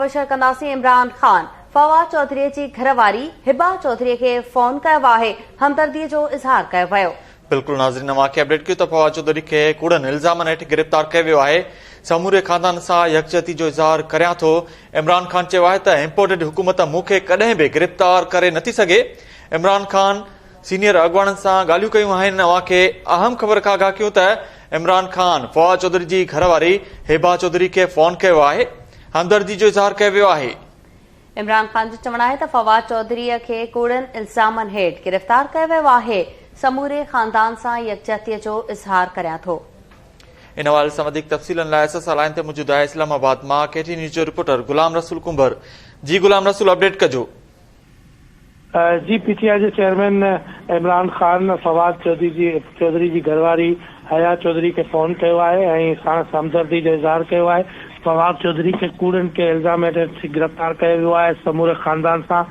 مبشر ڪنداسين عمران خان فواد چوڌري جي گهر واري هبه چوڌري کي فون ڪيو آهي همدردي جو اظهار ڪيو ويو. بلڪل ناظرين اوهان کي اپڊيٽ ڪيو ته فواد چوڌري کي ڪوڙن الزامن هيٺ گرفتار ڪيو ويو آهي سموري خاندان سان يڪجهتي جو اظهار ڪريان ٿو عمران خان چيو آهي ته امپورٽيڊ حڪومت مون کي ڪڏهن به گرفتار ڪري نه ٿي سگهي عمران خان سينيئر اڳواڻن سان ڳالهيون ڪيون آهن اوهان کي اهم خبر کان آگاهه ڪيون ته عمران خان فواد چوڌري جي گهر واري هبه چوڌري کي فون ڪيو آهي همدردي جو اظهار ڪيو ويو آهي. عمران خان جو چوڻ آهي ته فواد چوڌري کي ڪوڙن الزامن هيٺ گرفتار ڪيو ويو آهي، سموري خاندان سان يڪجهتي جو اظهار ڪريان ٿو. ان حوالي سان وڌيڪ تفصيلن لاء ايس ايس آء لائين تي موجود آهي اسلام آباد مان ڪي ٽي نيوز جو رپورٽر غلام رسول ڪنڀر جي غلام رسول اپڊيٽ ڪجو. جي پي ٽي آء جي چيئرمين عمران خان فواد چوڌري جي چوڌري جي گهر واري حيا چوڌري کي فون ڪيو آهي ۽ ساڻس همدردي جو اظهار ڪيو آهي، فواد چوڌري کي ڪوڙن ڪي الزام هيٺ گرفتار ڪيو ويو آهي، سموري خاندان سان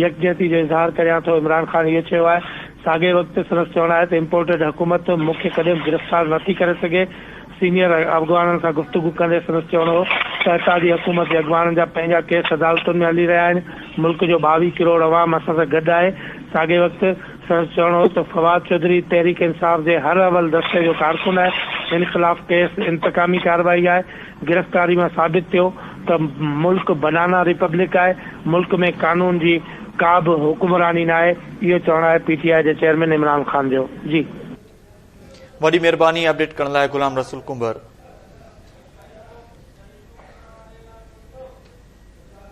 يڪجهتي جو اظهار ڪريان ٿو، عمران خان اهو چيو آهي، ساڳئي وقت سندس چوڻ آهي ته امپورٽيڊ حڪومت مون کي ڪڏهن به گرفتار نه ٿي ڪري سگهي، سينيئر اڳواڻن سان گفتگو ڪندي سندس چوڻ هو ته اتحادي حڪومت جي اڳواڻن جا پنهنجا ڪيس عدالتن ۾ هلي رهيا آهن، ملڪ جو ٻاويهه ڪروڙ عوام اسان سان گڏ آهي. ساڳئي وقت سندس چوڻ هو ته فواد چوڌري تحريڪ انصاف جي حر اول دستي جو ڪارڪن آهي، هن خلاف ڪيس انتقامي ڪارروائي آهي، گرفتاري مان ثابت ٿيو ته ملڪ بنانا ريپبلڪ آهي، ملڪ ۾ قانون جي ڪا به حڪمراني ناهي، اهو چوڻ آهي پي ٽي آء جي چيئرمين عمران خان جو. جي. وڏي مھرباني اپڊيٽ ڪرڻ لاء غلام رسول ڪنڀر.